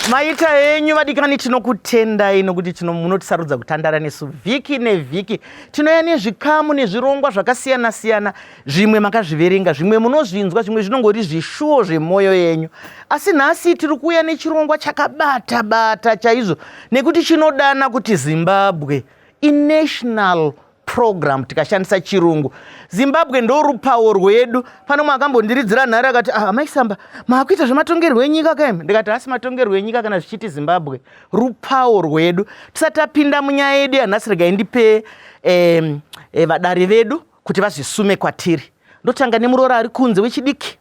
maita henyu vadikani tinokutendai nokuti munotisarudza kutandara nesu vhiki nevhiki tinouya nezvikamu nezvirongwa zvakasiyana-siyana zvimwe makazviverenga zvimwe munozvinzwa zvimwe zvinongori zvishuwo zvemwoyo yenyu asi nhasi tiri kuuya nechirongwa chakabata bata chaizvo nekuti chinodana kuti zimbabwe inational program tikashandisa chirungu zimbabwe ndorupawo rwedu pane mwe akambondiridzira nhare akati ah, amai samba maakuita zvematongerwo enyika kaim ndikati hasi matongerwo enyika kana zvichiti zimbabwe rupawo rwedu tisati apinda munyaya yedu yanhasi regai ndipe eh, eh, vadari vedu kuti vazvisume kwatiri ndotanga nemuroora ari kunze wechidiki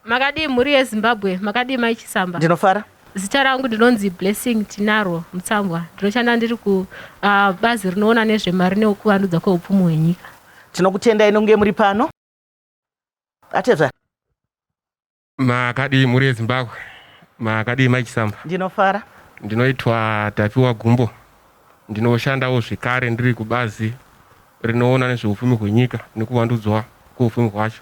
makadii mhuri yezimbabwe makadii mai chisamba ndinofara zita rangu ndinonzi blessing tinaro mutsambwa ndinoshanda ndiri kubazi ah, uh, rinoona nezvemari neukuvandudza kweupfumi hwenyika tinokutendai nonge muri pano atezva Makadii mhuri yeZimbabwe, makadii mai Chisamba? Ndinofara. Ndinoitwa Tapiwa Gumbo, ndinoshandawo zvekare ndiri kubazi rinoona nezveupfumi hwenyika nekuvandudzwa kweupfumi hwacho.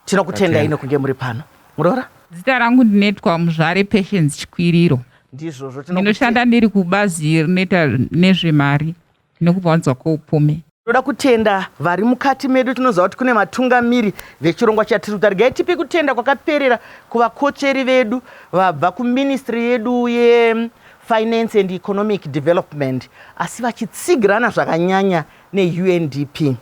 Tinokutendai nekunge muri pano muroora. Zita rangu ndinetwa Muzvare Patience Chikwiriro. Ndizvozvo tinokuti- Ndinoshanda ndiri kubazi rinoita nezvemari. nekubva wanzwa koupumi. Tinoda kutenda vari mukati medu. Tinoziva kuti kune vatungamiri vechirongwa chatiri kuita. Regai tipe kutenda kwakaperera kuvakotsveri vedu vabva kuministry yedu yefinance and economic development asi vachitsigirana zvakanyanya neundp.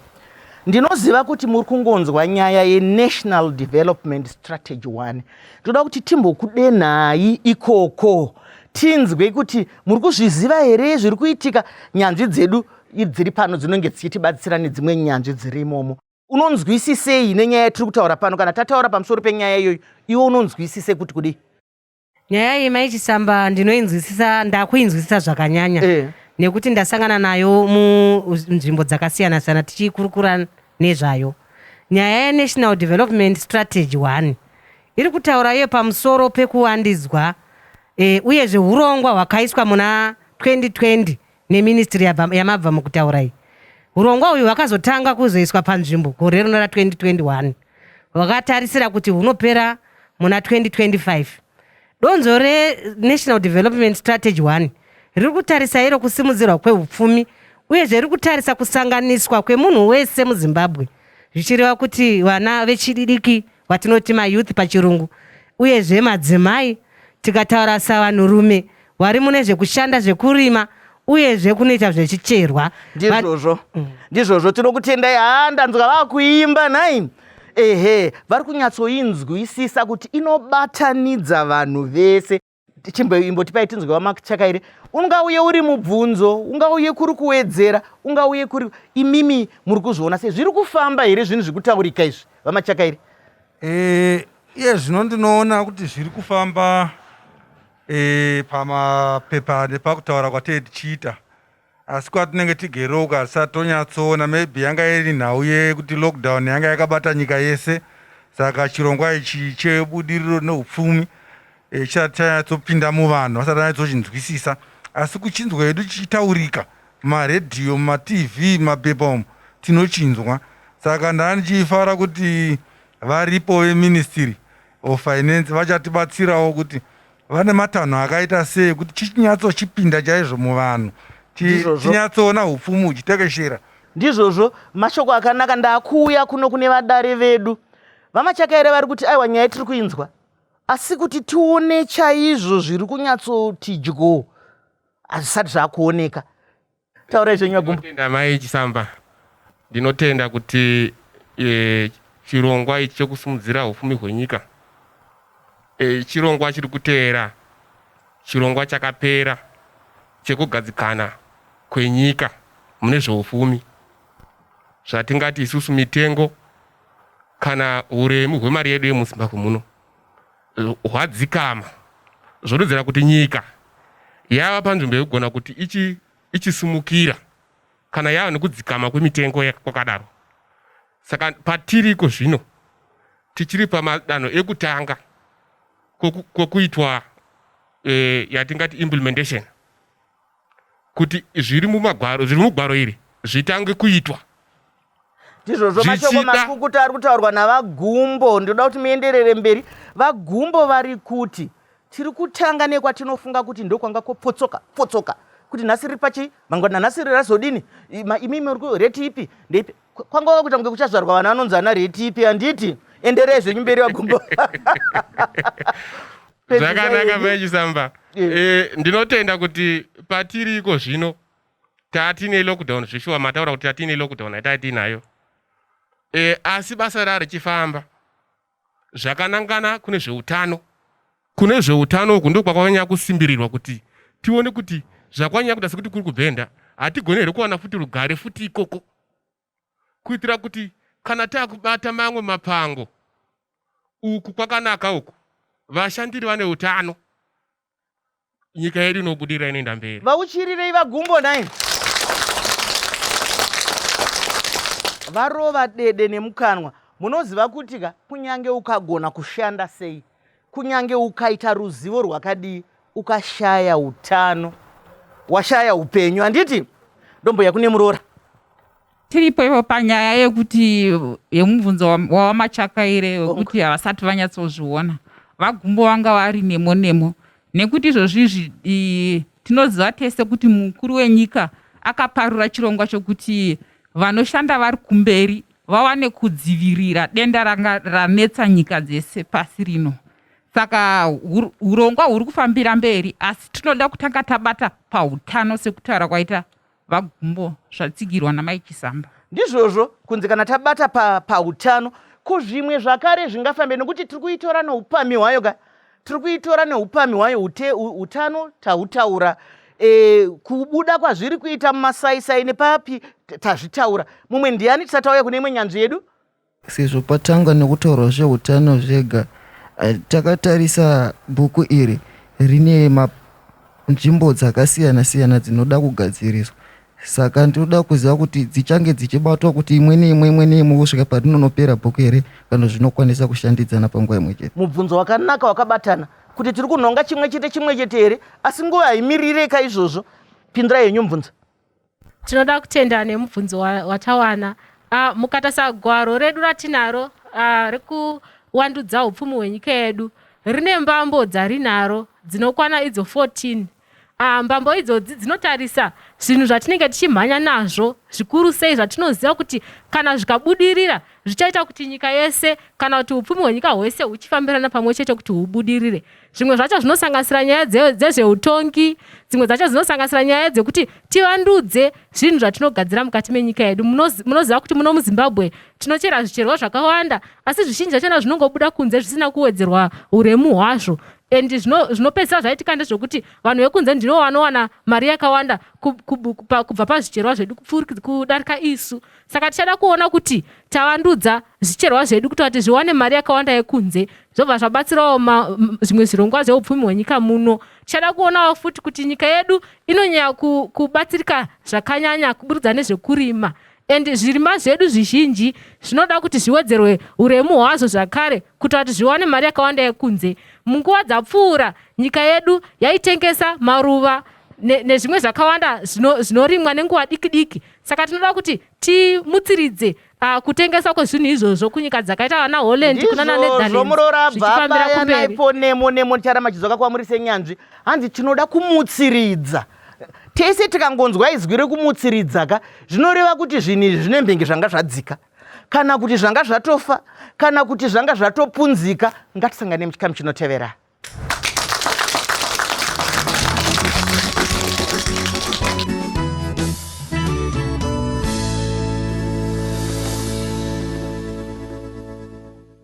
Ndinoziva kuti muri kungonzwa nyaya yenational development strategy one. Tinoda kuti timbokudenhai ikoko tinzwe kuti muri kuzviziva here zviri kuitika nyanzvi dzedu dziri pano dzinenge dzichitibatsira nedzimwe nyanzvi dziri imomo unonzwisisei nenyaya yatiri kutaura pano kana tataura pamusoro penyaya iyoyo iwe unonzwisise kuti kudii nyaya iyi mai chisamba ndinoinzwisisa ndakuinzwisisa zvakanyanya eh. nekuti ndasangana nayo munzvimbo dzakasiyana siyana tichikurukura nezvayo nyaya yenational development strategy one Iri kutaura iyo pamusoro pekuwandidzwa e, uyezve hurongwa hwakaiswa muna 2020 neministry yamabva mukutaura iyi. Hurongwa uyu hwakazotanga kuzoiswa panzvimbo gore rino ra 2021 hwakatarisira kuti hunopera muna 2025. Donzvo reNational Development Strategy 1 riri kutarisa iro kusimudzirwa kweupfumi uyezve riri kutarisa kusanganiswa kwemunhu wese muZimbabwe zvichireva kuti vana vechidiki vatinoti mayouth pachirungu uyezve madzimai tikataura savanhurume vari mune zvekushanda zvekurima uyezve kunoita zvechicherwa ndizvozvo mm. ndizvozvo tinokutendai haa ndanzwa vakuimba nhai ehe vari kunyatsoinzwisisa kuti inobatanidza vanhu vese chimboimbotipai tinzwe wamakchakaire ungauye uri mubvunzo ungauye kuri kuwedzera ungauye kuri imimi muri kuzviona sei zviri kufamba here zvinhu zviri kutaurika izvi vamachakaire eh, iye zvino ndinoona kuti zviri kufamba e, pamapepa nepakutaura kwatee tichiita asi kwatinenge tigere uko hatisati tonyatsoona maybe yanga iri nhau yekuti lockdown yanga yakabata nyika yese saka chirongwa ichi chebudiriro neupfumi eh, chisati chanyatsopinda muvanhu vasati vanyatsochinzwisisa asi kuchinzwa hedu chichitaurika mumaredhiyo mumatv mumapepa umu tinochinzwa saka ndani chiifara kuti varipo veministry of finance vachatibatsirawo kuti Vane matanho akaita sei kuti chichinyatsochipinda chaizvo muvanhu tinyatsoona hupfumi huchitekeshera ndizvozvo mashoko akanaka ndakuuya kuno kune vadare vedu vamachakaere vari kuti aiwa nyaya tiri kuinzwa asi kuti tione chaizvo zviri kunyatsoti dyo hazvisati zvakuoneka Taurai zvenyu agumbo. Ndinotenda mai Chisamba. Ndinotenda kuti e, chirongwa ichi chekusimudzira hufumi hwenyika e, chirongwa chiri kuteera chirongwa chakapera chekugadzikana kwenyika mune zveufumi zvatingati isusu mitengo kana uremu hwemari yedu yemuzimbabwe muno hwadzikama zvodudzira kuti nyika yava panzvimbo yekugona kuti ichi ichisumukira kana yava nekudzikama kwemitengo kwakadaro saka patiri iko zvino tichiri pamadanho ekutanga kwokuitwa e, yatingati implementation kuti zviri mumagwaro zviri mugwaro iri zvitange kuitwa ndizvozvo mashoko makukuta ari kutaurwa navagumbo ndinoda kuti muenderere mberi vagumbo vari kuti tiri kutanga nekwatinofunga kuti ndokwanga kopotsoka potsoka kuti nhasi riri pachi mangwana nhasi riri razodini imi muri reti ipi ndeipi kwanga wakuita kunge kuchazvarwa vana vanonzi ana reti ipi handiti enderei zvenyu mberi vagumbo zvakanaka vechisamba eh, ndinotenda kuti patiriko zvino Tatine lockdown zveshuwa mataura kuti tatine lockdown haitai tinayo. E, asi basa rari chifamba zvakanangana kune zveutano. Kune zveutano uku ndokwakanyanya kusimbirirwa kuti tione kuti zvakwanyanya kuda sekuti kuri kubvenda hatigone here kuwana futi rugare futi ikoko. kuitira kuti kana takubata mamwe mapango uku kwakanaka uku vashandiri vane utano nyika yedu inobudirira inoenda mberi vauchirirei vagumbo nai varova dede nemukanwa munoziva kuti ka kunyange ukagona kushanda sei Kunyange ukaita ruzivo rwakadii, ukashaya utano, washaya upenyu. Handiti ndombuya kune muroora? tiripo ivo panyaya yekuti yemubvunzo wawamachakaire wekuti havasati vanyatsozviona vagumbo vanga vari nemo nemo nekuti izvozvizvi tinoziva tese kuti mukuru wenyika akaparura chirongwa chokuti vanoshanda vari kumberi vawane kudzivirira denda ranga ranetsa nyika dzese pasi rino. Saka hurongwa huri kufambira mberi, asi tinoda kutanga tabata pahutano sekutaura kwaita VaGumbo zvatsigirwa naMai Chisamba. Ndizvozvo kunzi kana tabata pahutano pa kuzvimwe zvakare zvingafambe nekuti tiri kuitora noupamhi hwayo ka tiri kuitora neupamhi hwayo utano tautaura e, kubuda kwazviri kuita mumasaisai nepapi tazvitaura mumwe ndiani tisatauya kune imwe nyanzvi yedu sezvo patanga nekutaurwa zveutano zvega eh, takatarisa bhuku iri rine nzvimbo dzakasiyana siyana dzinoda kugadziriswa Saka ndinoda kuziva kuti dzichange dzichibatwa kuti imwe neimwe imwe neimwe kusvika parinonopera bhuku here kana zvinokwanisa kushandidzana panguva imwe chete. Mubvunzo wakanaka wakabatana kuti tiri kunhonga chimwe chete chimwe chete here asi nguva haimirirei ka izvozvo. Pindirai henyu mubvunzo. Tinoda kutenda nemubvunzo watawana. Uh, mukatarisa gwaro redu ratinaro uh, rekuwandudza upfumi hwenyika yedu rine mbambo dzarinaro dzinokwana idzo 14 Ah, mbambo idzodzi dzinotarisa zvinhu zvatinenge tichimhanya nazvo zvikuru sei zvatinoziva kuti kana zvikabudirira zvichaita kuti nyika yese kana kuti upfumi hwenyika hwese huchifambirana pamwe chete kuti hubudirire zvimwe zvacho zvinosanganisira nyaya dzezveutongi dzimwe dzacho dzinosanganisira nyaya dzekuti tivandudze zvinhu zvatinogadzira mukati menyika yedu munoziva kuti muno muzimbabwe tinochera zvicherwa zvakawanda asi zvizhinji zvachona zvinongobuda kunze zvisina kuwedzerwa uremu hwazvo and zvinopedzisa zvaitika ndezvekuti vanhu vekunze ndino vanowana mari yakawanda kubva pazvicherwa zvedu kudarika isu saka tichada kuona kuti tavandudza zvicherwa zvedu kuita kuti zviwane mari yakawanda yekunze zvobva zvabatsirawo zvimwe zvirongwa zveupfumi hwenyika muno tichada kuonawo futi kuti nyika yedu inonyaya kubatsirika zvakanyanya kuburikidza nezvekurima And zvirimwa zvedu zvizhinji zvinoda kuti zviwedzerwe uremu hwazvo zvakare kuitira kuti zviwane mari yakawanda yekunze. Munguva dzapfuura, nyika yedu yaitengesa maruva ne, nezvimwe zvakawanda zvinorimwa nenguva diki diki. Saka tinoda kuti timutsiridze uh, kutengeswa kwezvinhu izvozvo kunyika dzakaita vana holland kunana netherlandsizvomurorabvabayanaipo nemo nemo ticharamba chidzoka kwamuri senyanzvi hanzi tinoda kumutsiridza tese tikangonzwa izwi rekumutsiridza ka zvinoreva kuti zvinhu izvi zvine mbenge zvanga zvadzika kana kuti zvanga zvatofa kana kuti zvanga zvatopunzika ngatisangane muchikamu chinotevera